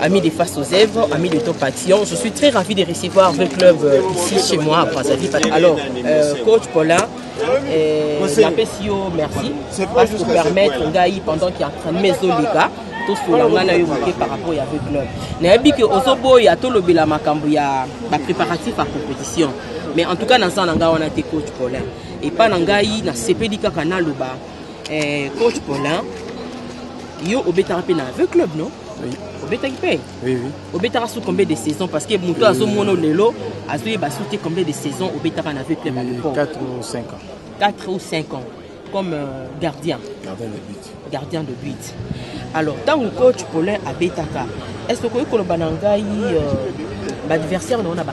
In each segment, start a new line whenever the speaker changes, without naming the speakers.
Amis de Face aux Œuvres, amis de Top Action, je suis très ravi de recevoir le club euh, ici chez moi à Brazzaville. Alors, euh, coach Paulin, euh, la PCO, merci, parce que permettre Ngaï pendant qu'il y a un train de maison, les gars, tosola ngai na yo moke par rapport ya club nayebi ke ozoboya tolobela makambo ya bapréparatif ya compétition mais en tout cas naza na ngai wana te coach paulin epai na ngai nasepeli kaka naloba Eh, coach Paulin, yo obetaka mpe na aveu club non oui. obetaki
mpe oui, oui.
obetaka
sous combien de
saison parce que moto oui, azomona lelo azoyeba sous te combien de saison obetaka na aveu club à l'époque 4 ou 5 ans 4
ou 5
ans comme euh, gardien gardien de but
gardien de but
alors ntango coach Paulin abetaka est ce que okoki koloba na ngai euh, baadversaire na yo na ba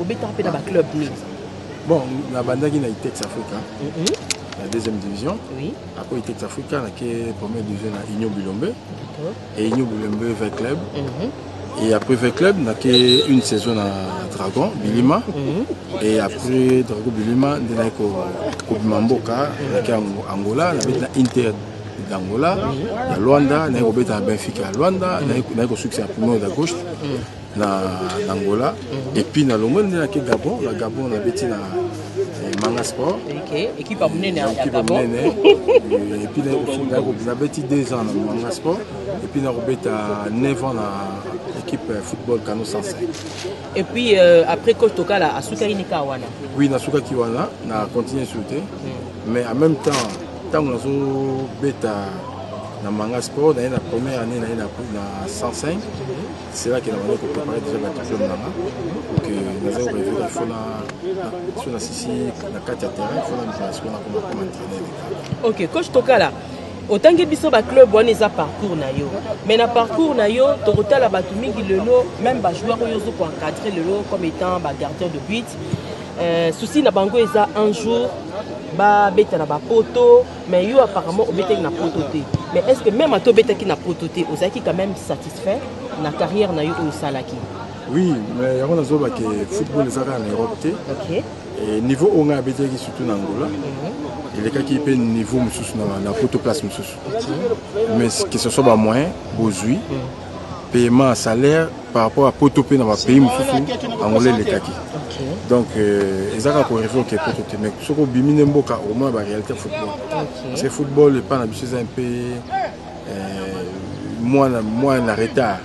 obetaka mpe na baclub nini bon
nabandaki na itex africa mm -hmm. na deuxième division oui. après itex
africa
nake première division na union bilombe et union bilombe v club mm -hmm. et après v club nake une saison na dragon bilima mm -hmm. et après dragon bilima nde naki kobima mboka nake angola nabeti na inter d'angola ya luanda naye kobeta na benfica ya luanda naye kosukisa ya pumeo da gauche na Angola et puis na longo nde na ke Gabon na Gabon na beti na eh, Manga Sport okay
équipe ya munene ya Gabon
eh, et puis na ko na beti 2 ans na Manga Sport et puis na ko beta 9 ans na équipe eh, football Kano 105 et puis
euh, après coach Tokala asuka inika wana oui na suka ki wana
na continuer sur te hmm. mais en même temps tango na zo beta na Manga Sport na na première année na na 105 C'est là que la manière qu'on préparait déjà la diplôme là-bas. Donc, nous avons rêvé qu'il faut la. Sur la Sissi, la 4 à terrain, il faut la place, on a comme comme entraîneur. Ok, coach Tokala.
otangi biso baclub wana eza parcours na yo mais na parcours na yo tokotala bato mingi lelo meme bajoueur oyo ozo koencadre lelo comme étant bagardien de but euh, souci na bango eza un jour babeta na bapoto Mais yo apparemment obetaki na poto te. Mais est-ce que même ato obetaki na poto te, ozalaki quand même satisfait na carrière na yo oyo osalaki? Oui,
mais yango nazoba ke football ezaka na Europe te. Okay. Et
niveau oyo
ngai abetaki surtout na Angola. Mm -hmm. elekaki mpe niveau mosusu na poto place mosusu mais que ce soit bamoyen bozwi paiement ya salaire par rapport ya poto mpe na bapays mosusu angola elekaki donc euh, eza kaka koreve oke poto te mais soki obimi nde mboka omona baréalité football parce que football epai na biso eza mpe euh, mwana mwana na retard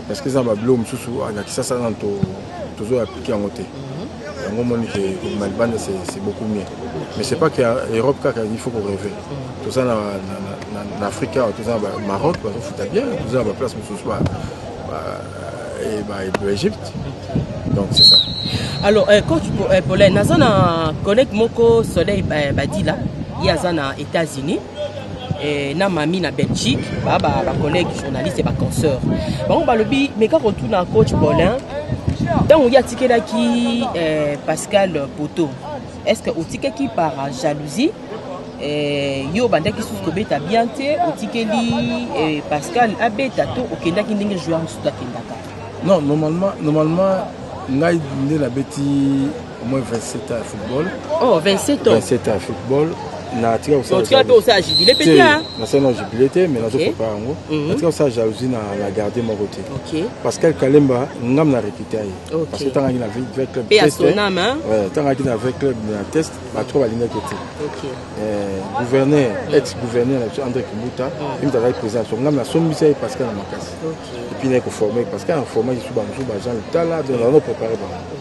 parce que eza babilo mosusu na kisasa nano tozoya aplike yango te yango omoni ke kobima libanda c'est beaucoup mieux mais c'est pas que europe kaka il faut koreve toza na afrique awa toza na maroc bazofuta bien toza na baplace mosusu baegypte donc c'est ça alors euh, coach
euh, polin naza na connect moko soleil badila ye aza na états-unis eh, na mami na belgique bacollègue ba, ba journaliste ba consoeur bango balobi meka kotuna coach paulin ntango ye atikelaki eh, pascal poto est ce que otikaki par jalousie eh, yo obandaki susu kobeta bien te otikeli eh, pascal abeta to okendaki ndenge joueur mosusu akendaka non normalement
normalement ngai nde nabeti
au
moins 27 ans ya football oh 27 ans 27 ans ya
football
natika kosala mpe osala jubile
mpe te nasali na jubile te
mais nazo prépare yango mhm. natika kosala jalousie na na gardien moko te pascal kalemba ngam na recruta ye parce que tangaki na vrai club tangaki na vrai club na test bato balingaki te eh, gouverneur mhm. ex gouverneur na biso andré kibuta mhm. imta azalaki président so ngam nasombisa ye pascal na makasi epuis naye koforme pascal aformaki su bamosusu bajean lutala donc nazo prépare bango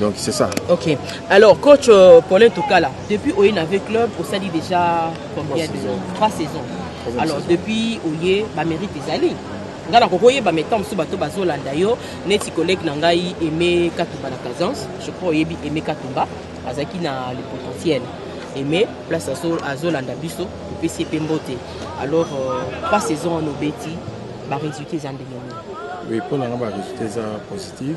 Donc c'est ça. Ok. Alors coach euh,
Paulin Tokala, depuis Oye Nave Club, au Sadi déjà combien de saisons Trois saisons. Alors saison. depuis Oye, bah mérite ezali. nga na kokoyeba metan mosusu bato bazolanda yo neti collègue na ngai aime katumba na kazance je crois oyebi aime katumba azalaki na le potentiel aime place azolanda biso opesi ye mpe mbote alors euh, trois saison wana obeti baresultat eza ndenge nini oui mpo na nga
baresultat eza positive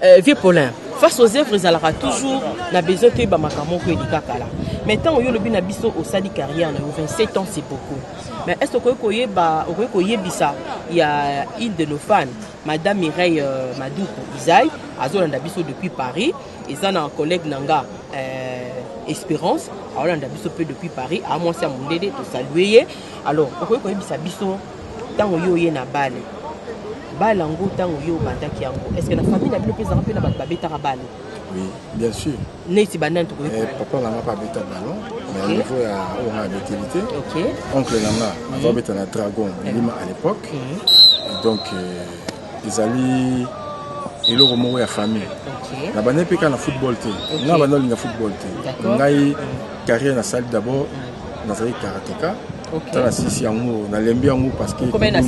Euh,
vieux Paulin, face aux œuvres ezalaka toujours na besoin toyeba makambo moko elika kala mais ntango yo olobi na biso osali carrière na yo 27 ans c'est beaucoup mais est ce okoki koyeba okoki koyebisa ya une de nos fans madame mireille euh, maduku izai azolanda biso depuis paris eza na collègue na nga euh, espérance aolanda biso mpe depuis paris amwasi ya mondele tosalue ye alors okoki koyebisa biso ntango yo oye na bale bale yango ntango yo obandaki yango est ce que na famille na bino mpe ezalaka mpe na bato babetaka bale oui bien
sûr neti banani tokoki
eh, papa na nga mpe abeta
ballon na niveau ya oyo nga abeteli te oncle na nga mhm. aza obeta na dragon lima à l'époque mhm. donc euh, ezali eloko moko ya famille na banda mpe kaka na football te nga banda olinga football te ngai mhm. carrière nasali d'abord nazali karateka tala sisi yango nalembi yango parcequetala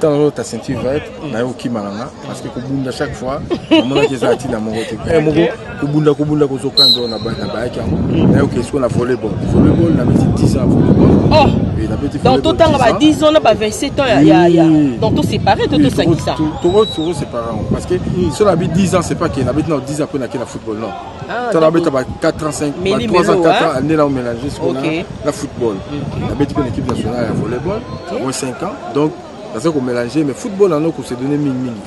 oyo ta ceinture
verte mm. naye okimaka nga parceke kobunda chaque fois amonaki eza atina moko te eh, moko kobunda kobunda kozoka ndo na bayaki yango mm. naye oke siko na volleyball volleyball nabeti 10 ans volleyball oh! donc totanga ba 10 ans
na ba 27 ans ya donc tosépare to tosangisa tokosépare
yango parce que mm. so nabi 10 ans c'est pas ke nabeti na 10 ans mpo nakela football non Ah, tala abeta ba 4 ans 5 ba 3 ans 4 ans année là on mélange jusqu'au la football abeti une équipe nationale à volleyball moins 5 ans donc ça qu'on mélange mais football là on se donner mingi mingi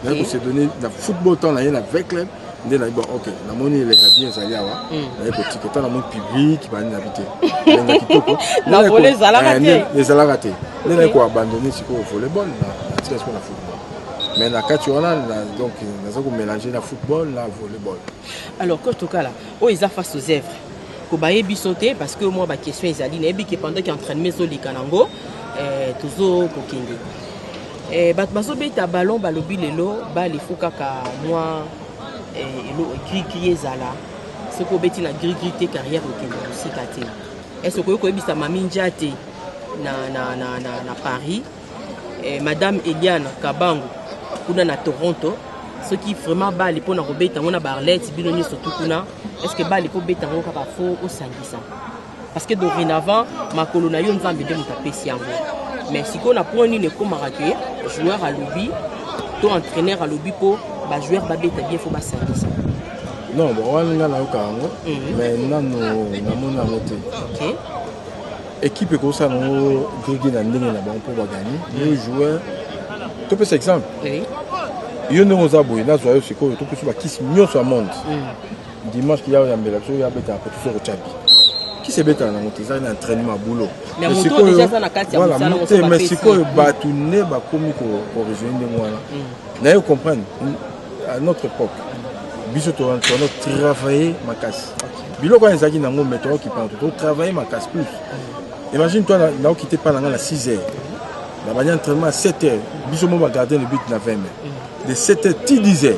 te on se donner la football tant là avec club nde nayebi ok namoni elenga bien ezali awa hmm. naye kotika ata namoni public bani nabi te elenga kitoko eh, ezalaka te nde naye koabandone sikoyo volleyball na tika sikoyo na football mais na kati wana donc naza komélange na football na volleyball alors coach
tokala oyo eza face aux œuvres kobaye biso te parce que mwa baquestion ezali nayebi ke pendant ke entraînement ezoleka nango eh, tozo kokende eh, bato bazobeta ballon balobi lelo bale fo kaka mwa eh, elo grigri ezala soki obeti na grigri te carrière okende mosika te est ce okoki koyebisa mami nja te na, na, na, na, na paris eh, madame eliana kabango kuna na toronto soki vraiment bali mpo na kobeta yango na barlete bino nyonso tu kuna estce bali mpo beta yango kaka fo osangisa parce que dorénavant makolo na yo nzambe nde moto apesi yango mais sikoyo na point nini ekomaka ke joueur alobi to entraîneur alobi mpo bajoueur babeta bien fo basangisa non
wana nga nayoka yango mhm. mais nanu namoni yango te Equipe ekosala yango grigi na ndenge na bango mpo baganye yo joueur topesa exemple yo ndenge oza boye nazwa yo sikoyo topesi bakisi nyonso ya monde mm. dimanche kiya oyambela biso oyo abetaka mpo tosi okotyabi kisi ebetaka nango te ezali na entraînement boulot
mais sikoyo
bato nde bakomi korejoine ndenge wana mm. naye comprendre à notre époque biso toza toza travailler makasi biloko wana ezalaki nango mais toza kipana to travailler makasi plus imagine toi naokite pa na ngai na 6 heures nabandi entraînement à 7 heures biso mo bagardien le but na 20 mai de 7 heures ti 10 heures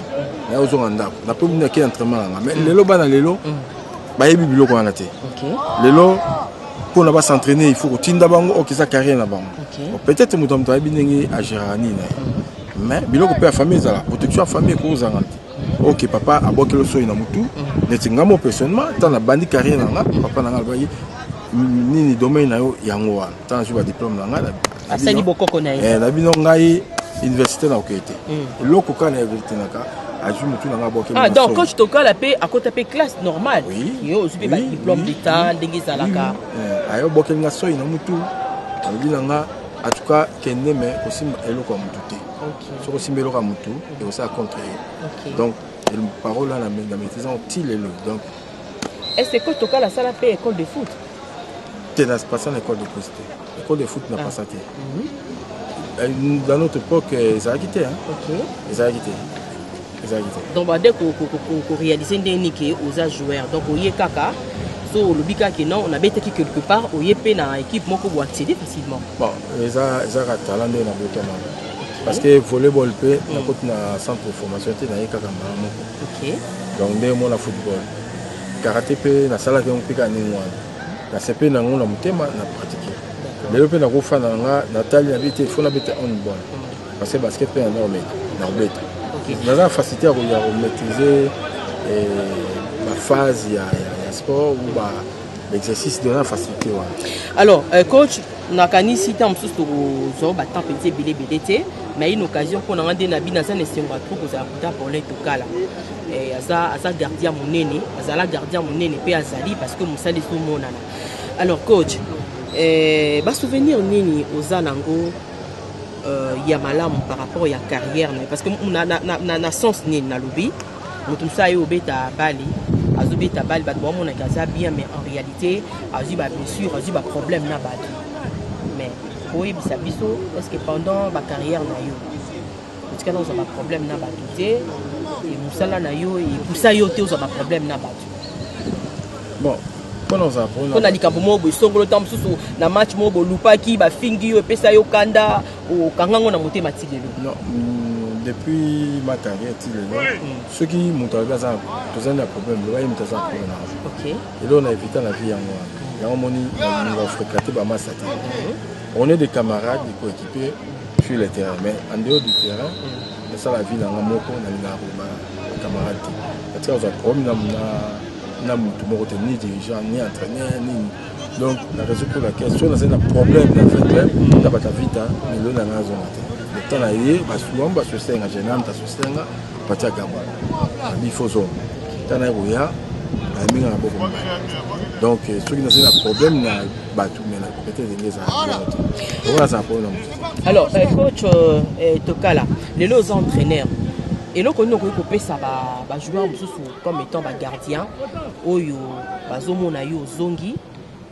nayozonga ndako napo bino yake entraînement na ngai mais lelo bana lelo bayebi biloko wana te lelo mpona basentraîner il faut kotinda bango okisa carrière na bango peut-être moto ya moto ayebi ndenge agéraka nini na ye mais biloko mpe ya famille ezala protection ya famille ekoki kozanga te ok papa abwakeli osoi na motu neti nga mo personnellement ntango nabandi carrière na nga papa na nga alobaki nini domaine na yo yango wana ntango nazwi badiplome na nga asali bokoko na
ye eh, na bino ngai
université na okei te hmm. eloko kaka na verité na ka azwi motu na nga abwakeli ah, donc coach tokala mpe
akota mpe classe normale yo ozwi mpe badiplome d'état ndenge ezalaka eh, ayo obwakeli
nga soi na motu alobi na nga en tout cas kende me kosimba eloko ya motu te soki osimba eloko ya motu ekosala contre ye donc parole wana na maîtrise yango ti lelo donc est ce
que tokala asala mpe école de foot te na
pasa na école de foot te école de foot na ah. pasa te mhm. euh, dans notre époque euh, ezalaki te ezalaki te
donc bande korealise ndenge nini ke oza joueur donc oye kaka so olobi kaka ke non nabetaki quelque part oye mpe na équipe moko bo accéder facilement bon eza
eza ka talent nde na botama parce que volleyball mpe mm. nakoti na centre de formation te naye kaka mbala moko donc nde omona football karate mpe nasalaki yango mpe kaka ndenge wana nasepe na yango na motema na pratique lelo mpe nakofana na nga natali na bi te fo nabeta onbon Parce que basket mpe yango omeka na kobeta naza facilité ya komaîtrise eh, baphase ya sport ou ba l'exercice de la facilité wana alors euh, coach
nakanisi ntango mosusu tokozwa batemp mpenza ebele ebele te na une occasion mpo na nga nde na bino aza na esengo ya trop kozala kuta paulin tokala eh, aza, aza gardien monene azala gardien monene mpe azali parce que mosala ezomonana alors coach eh, basouvenir nini oza nango euh, ya malamu par rapport ya carrière na parce que na, na, na, na, na sens nini nalobi moto mosusu aye obeta bale azobeta bale bato baomonaka aza bien mais en réalité azwi bablessure azwi baproblème na bato mais oyebisa biso est ce que pendant bacarrière na yo tika na ozwa baproblème na bato te e mosala na yo epusa yo te ozwa baproblème na bato
bon
mpo na likambo moko boesongolo ntango mosusu na match moko bolupaki bafingi yo epesa yo kanda okanga yango na motema ti lelo mm,
depuis ma carrière ti lelo soki moto alobi aza tozali na problème loba ye moto aza problème na yango eloko
na evita
na vie yango wana yango omoni na fréquente bamasa te on est des camarades coéquipier sur le terrain mais en dehors du terrain nasala vie nanga moko nalingaka koloba camarade te natika kozwa problème na motu moko te ni dirigeant ni entraîneur nini donc na raison pour laquelle soki nazali na problème na vrai club na bata vita melo nanga azonga te le temps na ye basuam basusenga genam tasusenga patia gaba bifo zonga ntango naye koya ayambinga na boko donc soki nazali na problème na bato mena alors euh, coach
euh, euh, tokala lelo oza entraîneur eloko nini okoki kopesa bajoueur mosusu comme étant bagardien oyo bazomona yo ozongi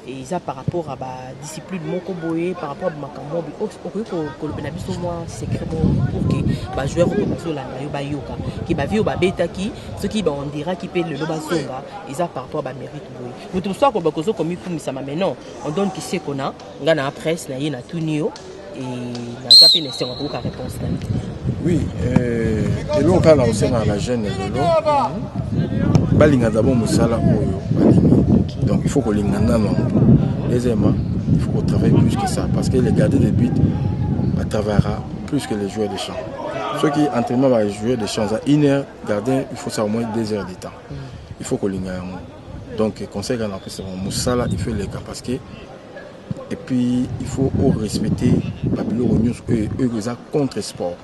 eza par rapport à badiscipline moko boye par rapport a makambo okoki kolobela biso mwa secret moko pour ke bajoueur oyo bazolanda yo bayoka ke bavie oyo babetaki soki baondiraki mpe lelo bazonga eza par rapport a bamérite boye moto mosusu akoloba kozo komikumisama mais non on donne qui sait qu'on a nga na presse na ye na tuni yo et naza pe na esengo koyoka réponse na yo oui
euh, eloko kaka na kosengaka na jeune lelo balinga dabord mosala oyo balingi donc il faut kolinga nano deuxièmement il faut kotravaille plus que ça parce que les gardiens de but batravaillera plus que les joueurs de champ soki entraînement bajoueur de champ eza une heure gardien il faut ça au moins deux heures de temps il faut kolinga yango donc conseil kaka napesa bango mosala il faut eleka parce que et puis il faut orespecter babiloko nyonso oyo oyo eza contre sport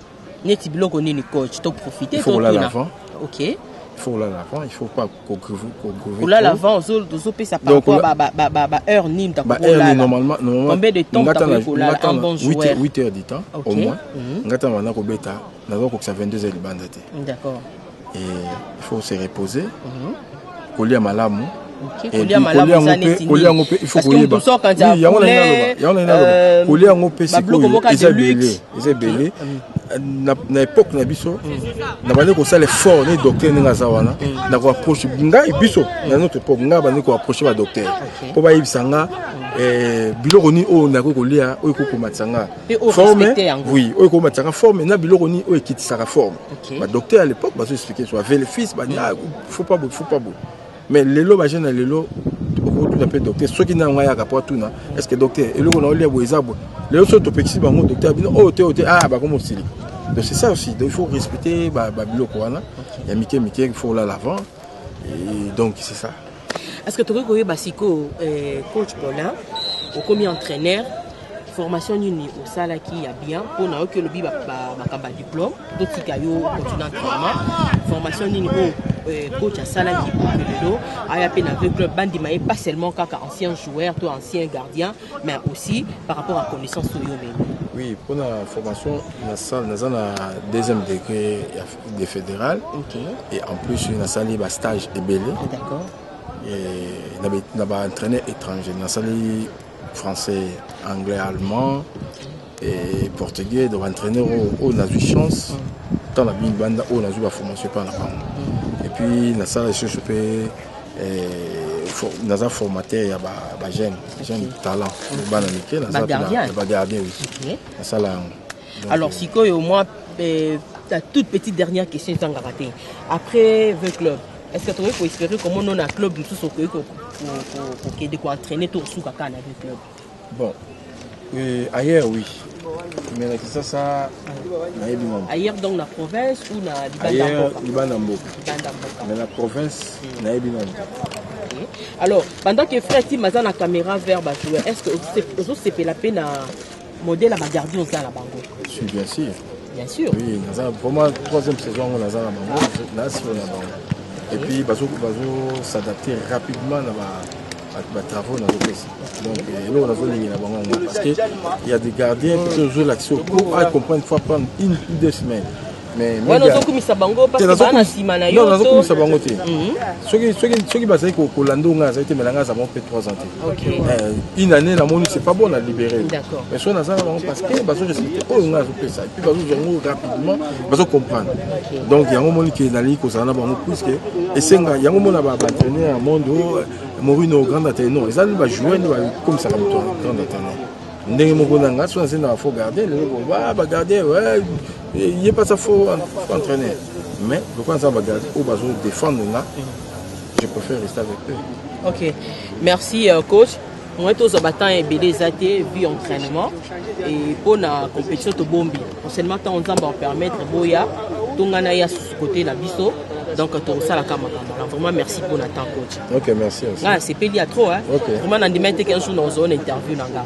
neti biloko
nini coach toprofite kolala avant
ok
il faut kolala
avant il faut pas kolala
avant ozopesa par rapport baheure nini takolalacombien de
temps
takoki kolala un bon joueur 8 heures du temps au
moins mhm. ngai ntango banda kobeta nazokokisa 22 heures libanda te d'accord il faut se reposer mhm. kolia malamu
kolia yango mpe ifo koyeba
yango kolia yango mpe sikoyo eza ebele eza ebele na époque na biso nabandi kosala effort neti docteur ndenge aza wana na koapproche ngai biso na notre époque ngai abandi koapproche badocteur mpo bayebisa nga eh, biloko nini oyo nakoki kolia oyo ekoki komatisa nga forme oui oyo ekomatisaka forme na biloko nini oyo ekitisaka forme badocteur à l'époque bazo explike so bavelefis bania faut pas boye faut pas boye mais lelo bajeune ya lelo okotuna mpe docteur soki na yango ayaka mpo atuna est ce que docteur eloko na olia boye eza boye lelo soki topekisi bango docteur bino oyo oh, te oyo oh, te a ah, bakomosilika donc c'est ça aussi donc il faut respecter babiloko wana ya mike mike il faut olala avant Et donc c'est ça. Est-ce que tu peux
Basiko, euh, coach Paulin, au commis entraîneur, formation nini osalaki ya bien mpo na yo ki olobi makambo ya diplôme totika yo continue entraînement formation nini oyo euh, coach asalaki lelo aya mpe na vrai club bandima ye pas seulement kaka ancien joueur to ancien gardien mais aussi par rapport à connaissance oyo omemi oui mpo na
formation nasala naza na deuxième degré ya de federal okay. et en plus nasali ba stage ebele d'accord na ba entraîneur étranger nasali français anglais allemand et portugais donc entraîneur oyo oh, oh, nazwi chance ntan mm. na bini banda oyo oh, nazwi baformation epai na bango mm. et puis nasala lisusu mpe naza formateur ya bajeune jeune talent bana mike naza bagardien nasala yango Alors sikoyo
moi eh, ta toute petite dernière question ezangaka te après vin club est-ce que tokoki koespere komona ona club mosusu okoki kokende koentraîne to osuka kaka na vin club bon
euh, ailleurs oui mais na kisasa nayebi mama
ailleurs donc na province ou na libanda
mboka mais na province hmm. nayebi mama
alors pendant que frère tim aza na caméra vers bajoueur est ce que ozosepela mpe na Modèle ya ba gardien oza na bango. Je suis bien sûr. Bien sûr. Oui, naza pour moi
troisième saison yango naza na bango, na sur na bango. Et puis bazo bazo s'adapter rapidement na ba batravaux nazopesa donc euh, eloko nazolingela bango yango parce que il y a des gardiens qui tozolakisa oko acomprendre fois prendre une ou deux semaines wana ozokumisa
bango pasbaa na nsima na yo nazokumisa bango te
mhm. soki bazali kolanda onga azali te melanga aza bango mpe 3 ans te eh, une année namoni c'est pas bon na libéré mais soki naza na
bango parce
que bazorespecte oyo nga azopesa epuis bazozwa yango rapidement bazocomprendre donc yango moni ke nalingi kozala na bango puiske esenga yango mona baentraîner ya monde oh, morino grand entraîneur non ezali bajoueur nde bakomisaka moto grand entraîneur ndenge moko na ngai soki nazali na bafo gardien lelo boba bagardien ye pas ça faux entraîneur mais lokola aza bagage oyo bazo défendre nga je préfère rester avec eux ok merci
euh, coach moi tozwa batemps ebele eza te vu entraînement et mpo na compétition tobombi enseignement ntango nzambe apermettre boya tongana ya côté na biso donc tokosalaka makambo na vraiment merci mpo na temps coach ok merci nga
nasepeli ya trop hein?
okay. vraiment nandimai te
qu'un jour
nakozwa na interview na nga